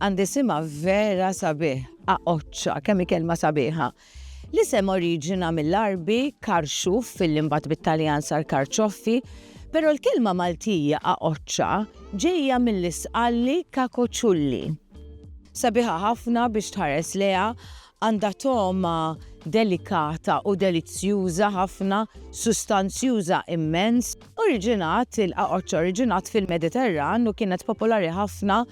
Għandi sima vera sabiħ, aqoċċa, kemm kelma sabiħa. L-isem oriġina mill-arbi karxuf fil-limbat bit-Taljan sar karċoffi, pero l-kelma Maltija aqoċċa ġejja mill-isqalli kakoċulli. Sabiħa ħafna biex tħares leha Għandha togħma delikata u delizzjuża ħafna, sustanzjuża immens. Oriġinat, il-qaqoċċ oriġinat fil-Mediterran u kienet popolari ħafna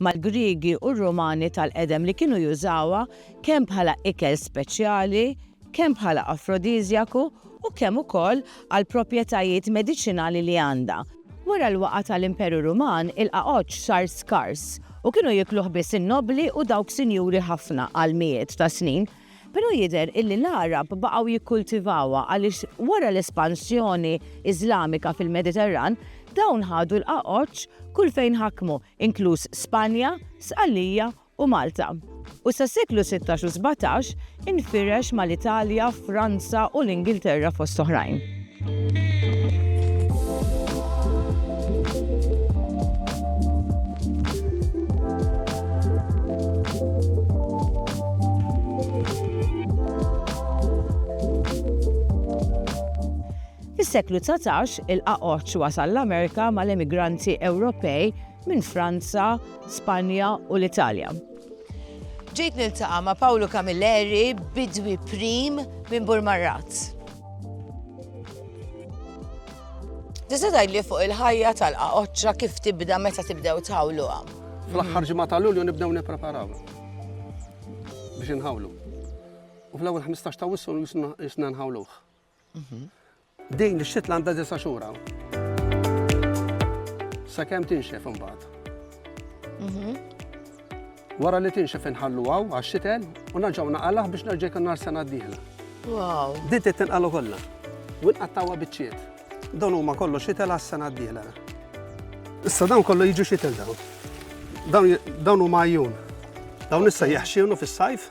mal-Griegi u r-Rumani tal-qedem li kienu jużawha kemm bħala ikel speċjali, kemm bħala afrodiżjaku u kemm ukoll għall-proprjetajiet mediċinali li għandha. Wara l-waqgħa tal-Imperu Ruman, il-qagħodx sar skars u kienu jiekluh biss in-nobbli u dawk sinjuri ħafna għal mijiet ta' snin. Però jidher illi l-Għarab baqgħu jikkultivawha għaliex wara l-espansjoni Iżlamika fil-Mediterran, dawn ħadu l-qagħodx kull fejn ħakmu, inkluż Spanja, Sqallija u Malta, u sas-seklu sittax u sbatax infirex mal-Italja, Franza u l-Ingilterra fost oħrajn. Fis-seklu dsatax, il-qaqoċċ wasal l-Amerika mal-emigranti Ewropej, minn Franza, Spanja u l-Italja. Ġejt niltaqa' ma' Pawlu Camilleri, bidwi prim minn Burmarrat. Tista' tgħidli fuq il-ħajja tal-qaqoċċa kif tibda meta tibdew tħawluha? Fl-aħħar ġimgħa ta' Lulju nibdew nippreparaw biex inħawlu. U fl-ewwel 15 ta' wissu jisna nħawluh. Mhm. Din ix-xitla għandha disa' xhur hawn. Sakemm tinxef imbagħad. Mhm. Wara li tinxef inħallu għaw għax-xitel u naġgħu naqalgħ biex nerġa' jkun nar sena d-dieħla. Wow. Din trid tinqalu kollha. U nqattawha biċċiet. Dawn huma kollu xitel għas-sena d-dieħla. Issa dawn kollu jiġu xitel dawn. Dawn huma għajjun. Dawn issa jaħxinu fis-sajf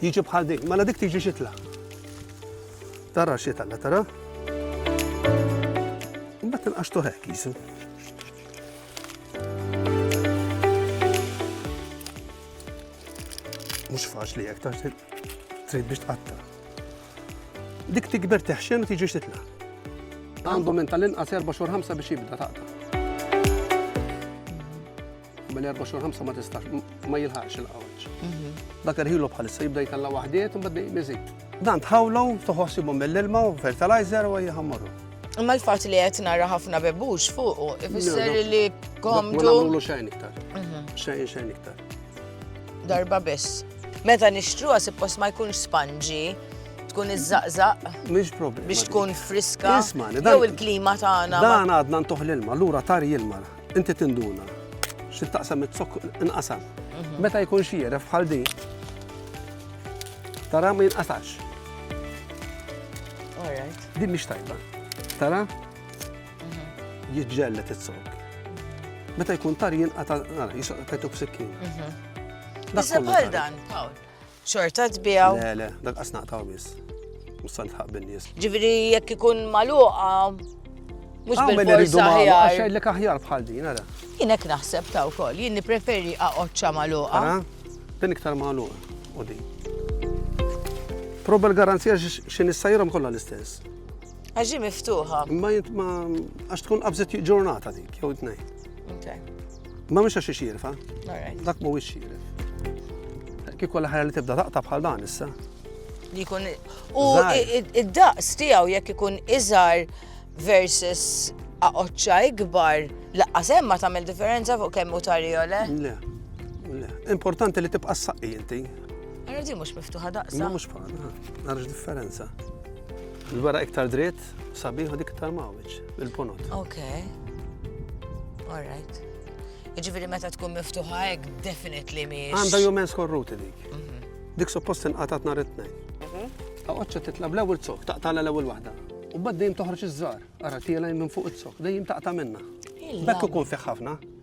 Jiġi bħal din, mela dik tiġi xitla. Tara xitla, la tara? Mbagħad tinqaxtu hekk jisu. Mhux faċli hekk tax trid biex tqatta. Dik tikber teħxen u tiġi xitla. Għandu minn tal-inqas 4 xhur 5 biex jibda taqta'. Minn 4 xhur 5 ma tistax, ma jilħaqx il-qawġ. Mhm. Dak irħilu bħalissa jibda jtalla waħdiet u bad miżid. Dan tħawlu, toħossibu mill-ilma u fertilizer u jħammaru. Imma l-fat li qed nara ħafna bebux fuqu, ifisser li komdu. Ma nagħmlu xejn iktar. Mhm. Xejn xejn iktar. Darba biss. Meta nixtruha suppost ma jkunx spanġi, tkun iż-żaqżaq. Mhix problema. Biex tkun friska. Jew il-klima tagħna. Dan għadna ntuħ l-ilma, lura tar jilma. Inti tinduna xi taqsam it-zokk inqasam. Mhm. Meta jkun xieref bħal di, tara ma jinqasax. Di mhix tajba. Tara? Mhm. Jiġġellet it-zokk. Meta jkun tar jinqata' jisqqa tajtu b'sikkin. Mhm. Bħal dan, Paul. Xorta tbijaw? Le, le, dak qas naqtaw biss. Mussan tħaq bin-nies. Ġifieri jekk ikun magħluqa mhux ah, bil-forsa aħjar. Għax jgħidlek aħjar bħal din, ara. Jien hekk naħseb ta' wkoll, jien nippreferi aqgħodxa magħluqa. Din iktar magħluqa u din. Proba l-garanzija x'in issajrhom kollha l-istess. Għax ġi miftuħa. Ma jint ma għax tkun qabżet ġurnata dik, jew tnejn. Ma mhux għax xirfa. Dak mhuwiex xirf. Kieku l-ħajja li tibda taqta' bħal dan issa. Li jkun u id-daqs tiegħu jekk ikun iżgħar versus aqoċċa ikbar, laqqas hemm ma tagħmel differenza fuq kemm hu tarjole. Le. Importanti li tibqa' s-saqqi inti. Għarra di mhux miftuħa daqsa. Mhux bħal, għarrax differenza. Il-wara iktar dritt, sabiħ u dik iktar mawġ, il-ponot. Ok. All right. Iġifieri meta tkun miftuħa hekk definitely miex. Għandha jumen skorruti dik. Mhm. Dik suppost inqatat nhar it-tnejn. Għoċċa mhm. titla bl-ewwel zok, taqtala l-ewwel waħda. U bad dejjem toħroġ iż-żar, ara tiela minn fuq iz-zok, dejjem taqta' minna. Bekk ikun fih ħafna.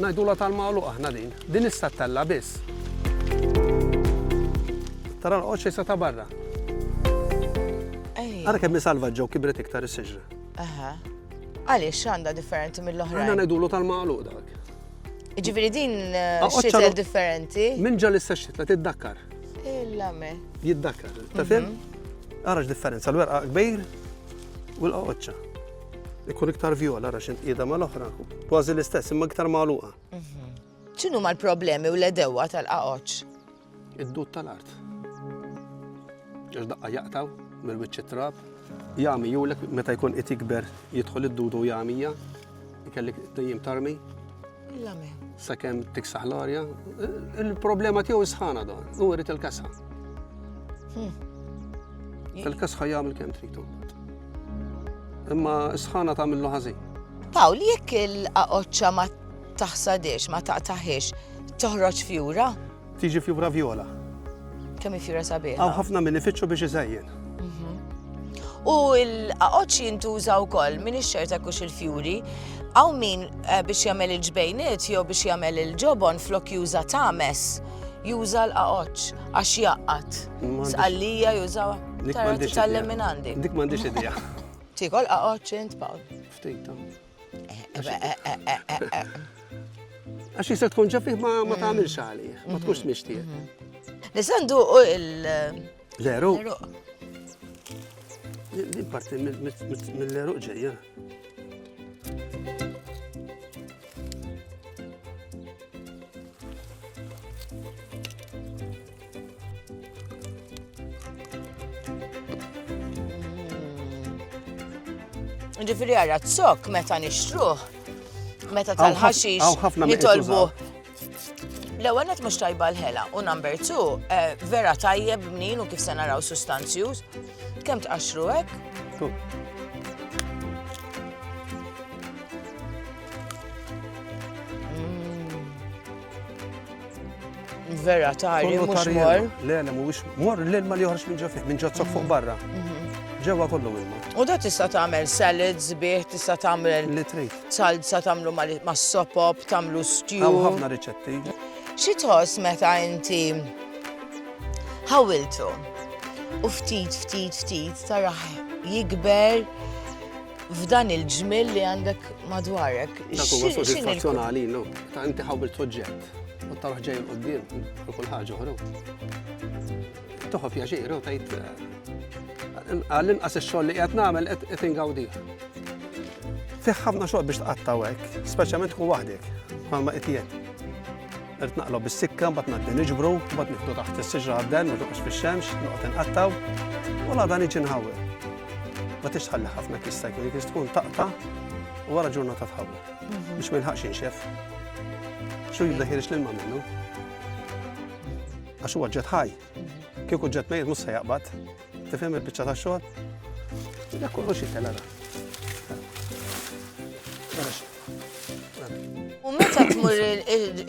Ngħidulha tal-magħluq aħna din. Din issa ttella' biss. Tara l-qoċċ issa ta' barra. Ara kemm hi salvaġġa u kibret iktar is-siġra. Aha. Għaliex x'għandha differenti mill-oħra? Aħna ngħidulu tal-magħluq dak. Ġifieri din eh, xitel differenti. Minn ġal issa xitla tiddakkar. Illa me. Jiddakkar, ta' fim? Mhm. Ara x'differenza l-werqa kbir u l-qoċċa. Ikun iktar vjola ra xint qiegħda mal-oħra. Kważi l-istess, imma iktar magħluqa. Mhm. X'inhu mal-problemi u l-edewa tal-qaqoċ? Id-dud tal-art. Ġax daqqa jaqtaw mill-wiċċ trab. Jami julek meta jkun qed jikber jidħol id-dudu jamija, ikellik dejjem tarmi. L-amen. Sakemm tiksaħ l-arja, il-problema tiegħu sħana dan, u rrit il-kasħa. Hmm. Il-kasħa jagħmel kemm tritu. Imma sħana tagħmillu ħażin. Pawl, jekk il-qaqoċċa ma taħsadiex, ma taqtaħiex, toħroġ fjura? Tiġi fjura vjola. Kemm fjura sabiħ. Għaw ħafna minn ifittxu biex iżajjen. Mhm. U l-qaqoċ jintuża wkoll minn ix-xerta kux il-fjuri. Għaw min eh, biex jagħmel il-ġbejniet jew biex jagħmel il-ġobon flok juża tames juża l-qaqoċ għax jaqqat. Sqallija juża tal-leminandi. Dik m'għandix idea. Tikol qaqoċ int Paul. Ftit. Għax jista tkun ġafih ma mm. tagħmilx għalih, ma tkunx mm-hmm. mixtieq. Mm-hmm. Nisandu u il- Leru. Din parti mill-leru ġejja. Ġifiri għarra t-sok meta nixtruħ, meta tal-ħaxix nitolbu. L-ewwel qed mhux tajba l-ħela u number two eh, vera tajjeb mnin u kif se naraw sustanzjuż. Kemm tqaxxru hekk? Vera tari, mhux mor. Le, le, mhuwiex mor l-ilma li joħroġ minn ġo fih, minn ġozzok fuq barra. Mhm. Ġewwa kollu ilma. U da tista' tagħmel salads bih, tista' tagħmel li trid. Salsa tagħmlu mas-sopop, tagħmlu stew. Hawn ħafna riċetti. Xi tħoss meta inti ħawiltu u ftit ftit ftit taraħ jikber f'dan il-ġmil li għandek madwarek. Dak huwa soddisfazzjonali, no? Ta' inti ħawil soġġett. U taruħ ġej l-qoddim, u kull ħaġa uħru. Toħof jaġir, u tajt. Għall-inqas il-xogħol li qed nagħmel qed ingawdi. Fiħ ħafna xogħol biex tqattaw hekk, speċjalment tkun waħdek, bħalma qed jien. Irt naqlob bis-sikka, mbagħad ngħaddi niġbru, mbagħad nieħdu taħt is-siġra għadden, ma toqgħodx fix-xemx, noqgħod inqattaw, u la dan iġi nħawwel. Ma tixtħalli ħafna kista jkun jkun tkun taqta' u wara ġurnata tħawwel. Biex ma jilħaqx inxef. Xu jibda ħirix l-ilma minnu. Għax huwa ġet ħaj. Kieku ġet mejr mhux se jaqbad. Tifhem il-biċċa ta' xogħol? Dak kollox jitela. U meta tmur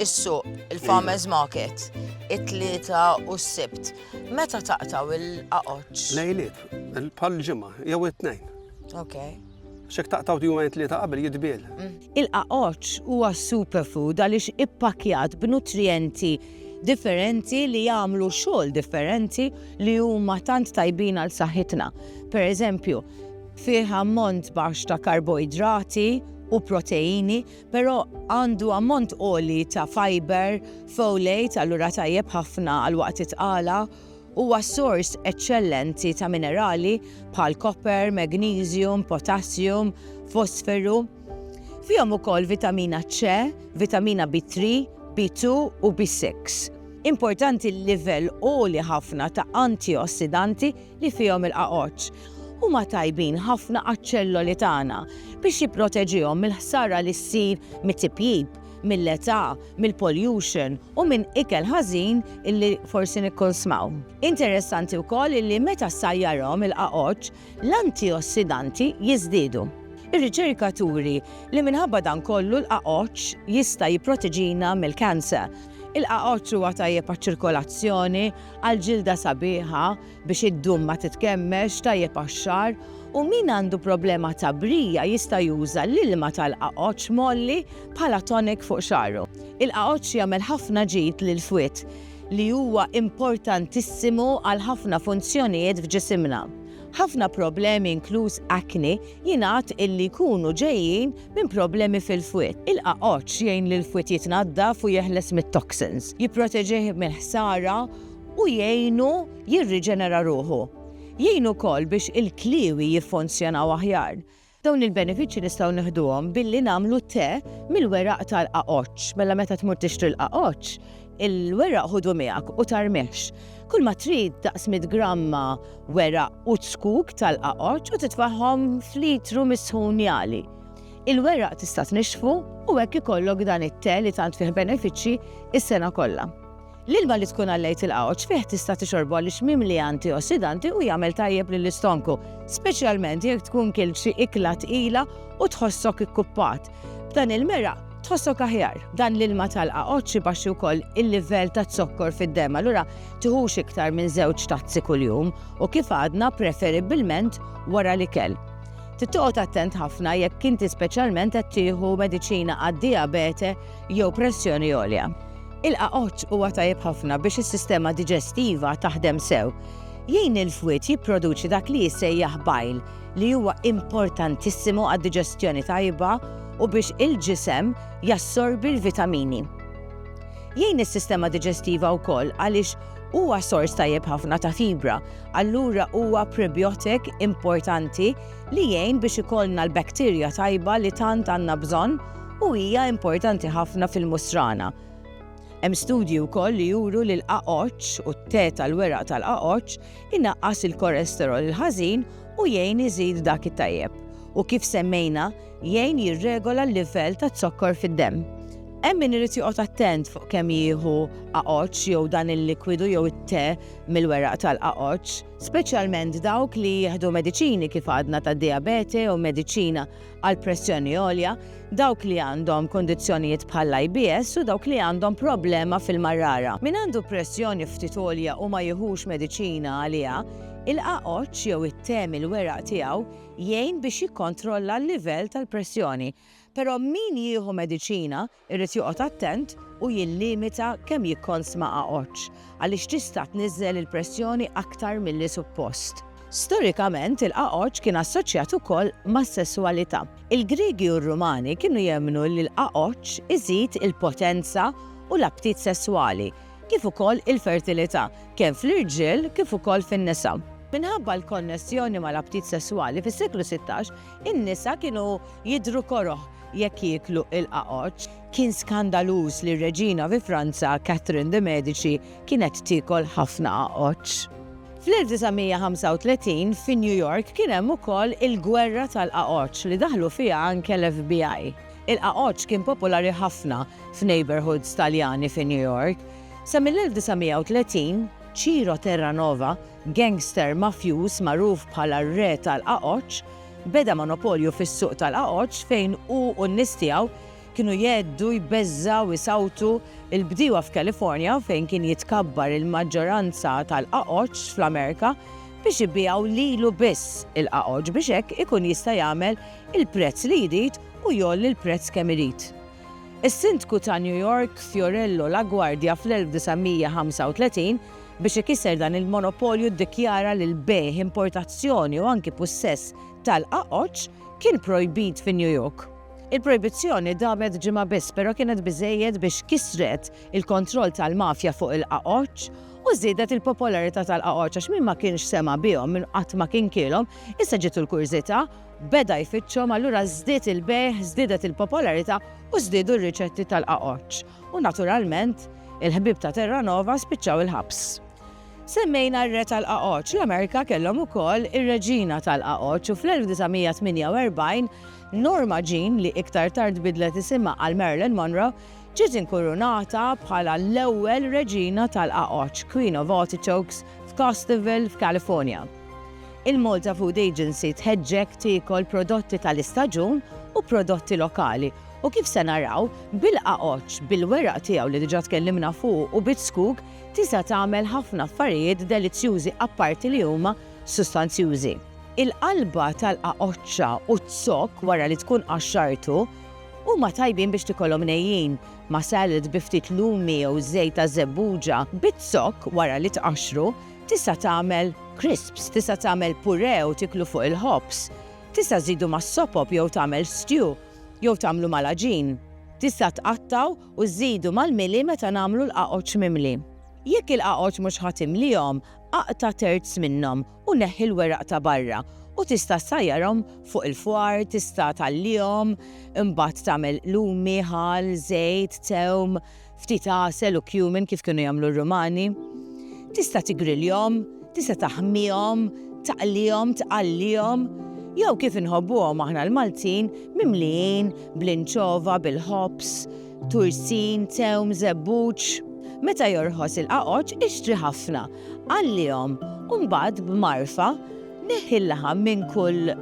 is-suq, il-farmers market, it-tlieta u s-sibt, meta taqtaw il-qaqoċ? Lejliet, il-pal ġimma, jew it-tnejn. Okay. Xek taqtaw jumejn tlieta qabel jitbiel. Il-qaqoċ huwa superfood għaliex ippakjat b'nutrijenti differenti li jagħmlu xogħol differenti li huma tant tajbin għal saħħitna. Per eżempju, fih ammont baxx ta' karboidrati u proteini, però għandu ammont oli ta' fiber, folate, allura tajjeb ħafna għal waqt itqala Huwa sors eċċellenti ta' minerali bħal koper, magniżjum, potassium, fosferu. Fihom ukoll vitamina C, vitamina B3, B2 u B6. Importanti l-livell għoli ħafna ta' antiossidanti li fihom il-qagħoġ. Huma tajbin ħafna għaċ-ċelloli tagħna biex jipproteġihom mill-ħsara li ssir mit-tipjip. mill-età, mill-pollution u minn ikel ħażin illi forsi nikkonsmaw. Interessanti wkoll illi meta ssajjarhom il-qagħoġ, l-antiossidanti jiżdiedu. Ir-riċerka turi li minħabba dan kollu l-qagħoġ jista' jipproteġina mill-cancer. Il-qagħoġ huwa tajjeb għaċ-ċirkolazzjoni, għall-ġilda sabiħa, biex id-dum ma titkemmilx, tajjeb għax-xagħar, u min għandu problema ta' brija jista' juża l-ilma tal-qagħoġġ mgħolli bħala tonic fuq xagħru. Il-qagħoġġ jagħmel ħafna ġid lill-fwied li huwa importantissimu għal ħafna funzjonijiet f'ġisimna. Ħafna problemi inkluż acne jingħad illi jkunu ġejjin minn problemi fil-fwied. Il-qagħoġġ jgħin lill-fwied jitnaddaf u jeħles mit-toxins, jipproteġih mill-ħsara, u jgħinu jirriġenera ruħu. Jgħin ukoll biex il-kliewi jiffunzjonaw aħjar. Dawn il-benefiċċji nistgħu nieħduhom billi nagħmlu te mill-weraq tal-qagħoġġ. Mela meta tmur tixtri l-qagħoġġ, il-weraq ħudu miegħek u tarmihx. Kulma trid daqs mitt gramma weraq u ċkuk tal-qagħoġġ u titfagħhom f'litru misħun jagħli. Il-weraq tista' tnixxfu u hekk ikollok dan it-te li tant fih benefiċċji s-sena kollha. L-ilma li tkun għallejt il-qawċ fih tista' tixorbu għaliex mimli antiossidanti u jagħmel tajjeb lill-istonku, speċjalment jekk tkun kilt xi ikla tqila u tħossok ikkuppat. B'dan il-meraq, tħossok aħjar. Dan l-ilma tal-qawċ ibaxxi wkoll il-livell taz-zokkor fid-demm, allura tiħux iktar minn żewġ tazzi kuljum u kif għadna preferibbilment wara l-ikel. Trid toqgħod attent ħafna jekk inti speċjalment qed tieħu mediċina għad-dijabete jew pressjoni għolja. Il-qaqoċ huwa tajjeb ħafna biex is-sistema diġestiva taħdem sew. Jgħin il-fwied jipproduċi dak li jissejjaħ bajl li huwa importantissimu għad-diġestjoni tajba u biex il-ġisem jassorbi l-vitamini. Jgħin is-sistema diġestiva wkoll għaliex huwa sors tajjeb ħafna ta' fibra, allura huwa prebiotik importanti li jgħin biex ikollna l-bakterja tajba li tant għandna bżonn u hija importanti ħafna fil-musrana. Hemm studji wkoll li juru li l-qaqoċ u t-te tal-weraq tal-qaqoċ inaqqas il-kolesterol il-ħażin u jgħin iżid dak it-tajjeb. U kif semmejna, jgħin jirregola l-livell ta' zokkor fid-demm. Hemm min irid joqgħod attent fuq kemm jieħu aqoċ jew dan il-likwidu jew it-te mill-weraq tal-aqoċ, speċjalment dawk li jieħdu mediċini kif għadna ta' diabete jew mediċina għal pressjoni għolja, dawk li għandhom kundizzjonijiet bħall-IBS u dawk li għandhom problema fil-marrara. Min għandu pressjoni ftit għolja u ma jiħux mediċina għaliha, il-qagħoġġ jew it-te mill-weraq tiegħu jgħin biex jikkontrolla l-livell tal-pressjoni. Però min jieħu mediċina Irid joqgħod attent u jillimita kemm jikkonsma għaġġ għaliex tista' tniżżel il-pressjoni aktar milli suppost. Storikament, il-għaġġ kien assoċjat ukoll mas-sesswalità. Il-Griegi u r-Rumani kienu jemmnu li l-għaġġ iżid il-potenza u l-aptit sesswali, kif ukoll il-fertilità, kemm fl-irġiel kif ukoll fin-nisa. Minħabba l-konnessjoni mal-aptit sesswali, fis-seklu sittax, In-nisa kienu jidhru koroh jekk jieklu l-qagħoġ. Kien skandaluż li r-reġina fi Franza, Catherine de Medici, kienet tiekol ħafna qagħoġ. Fl-1935, fi New York kien hemm ukoll il-gwerra tal-qagħoġ li daħlu fiha anke l-FBI. Il-qagħoġ kien popolari ħafna f'neighborhoods Taljani fi New York. Sa mill-1930, Ciro Terranova, Gangster mafjuż magħruf bħala r-Re tal-Qagħoġ beda monopolju fis-suq tal-Qagħoġ fejn hu u n-nies tiegħu kienu jgħeddu, jbeżżgħu, isawtu l-bdiewa f'California fejn kien jitkabbar il-maġġoranza tal-Qagħoġ fl-Amerika biex ibigħu lilu biss il-Qagħoġ biex hekk ikun jista' jagħmel il-prezz li jrid u jgħolli l-prezz kemm irid. Is-Sindku ta' New York Fiorello LaGuardia fl-1935 Biex ikisser dan il-monopolju ddikjara li l-bejgħ, importazzjoni u anki pussess tal-qaqoċ kien projbit fi New York. Il-projbizzjoni damet ġimgħa biss però kienet biżżejjed biex kissret il-kontroll tal-mafja fuq il-qaqoċ u żiedet il-popolarità tal-qaqoċ għax min ma kienx sema' bihom, min qatt ma kien kielhom, issa ġietu l-kurżità, beda jfittxhom allura żdied il-bejgħ, żdiedet il-popolarità u żdiedu r-riċetti tal-qaqoċ. U naturalment, il-ħbieb ta' Terranova spiċċaw il-ħabs. Semmejna r-Re tal-Qagħoġ, l-Amerika kellhom ukoll ir-Reġina tal-Qagħoġ u fl-1948, Norma Jean, li iktar tard bidlet isimha għal Marilyn Monroe, ġiet inkurunata bħala l-ewwel Reġina tal-Qagħoġ, Queen of Artichokes, f'Costerville, f'Kalifornja. Il-Malta Food Agency tħeġġek tiekol prodotti tal-istaġun u prodotti lokali U kif se naraw, bil-qagħodx, bil-weraq tiegħu li diġà tkellimna fuqu u biż-żkug, tisa' tagħmel ħafna affarijiet delizzjużi apparti li huma sustanzjużi. Il-qalba tal-qagħodxa u z-zokk wara li tkun qaxxartu huma tajbin biex tikolhom nejjin, ma' salad bi ftit lumi jew żejt ta' żebbuġa. Biz-zokk wara li tqaxxru, tisa' tagħmel crisps, tisa' tagħmel puree u tieklu fuq il-ħobż. Tisa' żidu mas-sopop jew tagħmel stew. Jew tagħmlu mal-għaġin. Tista' tqattgħu u żżidu mal-mili meta nagħmlu l-qagħoġ mimli. Jekk il-qagħoġ mhux ħa timlihom, aqta' terz minnhom u neħħi l-weraq ta' barra u tista' ssajjarhom fuq il-fwar, tista' tgħallihom, imbagħad tagħmel lumi, ħall, żejt, tewm, ftit għasel u cumin kif kienu jagħmlu r-Rumani. Tista' tigriljhom, tista' taħmihom, taqlihom, tqallihom, jew kif inħobbuhom aħna l-Maltin, mimlijin bl-inċova, bil-ħobż, tursin, tewm, żebbuġ. Meta jorħos il-qaqoċ, ixtri ħafna, Għallihom, u mbagħad b'mgħarfa neħħi l-laħam minn kull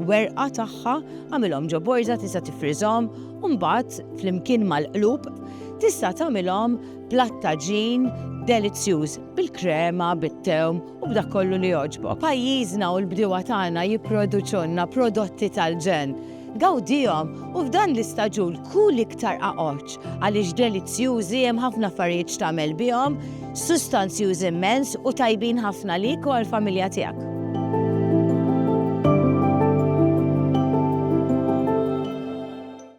werqa tagħha, agħmilhom ġo borża tista' tifriżhom u mbagħad flimkien mal-qlub tista' tagħmilhom platt ta' ġin delizzjuż bil-krema, bit-tewm u b'dak kollu li jogħġbok. Pajjiżna u l-bdiewa tagħna jipproduċulna prodotti tal-ġenn. Gawdihom u f'dan l-istaġun kul iktar qaqoċ għaliex delizzjużi, hemm ħafna affarijiet x'tagħmel bihom, sustanzjużi immens u tajbin ħafna għalik u għall-familja tiegħek.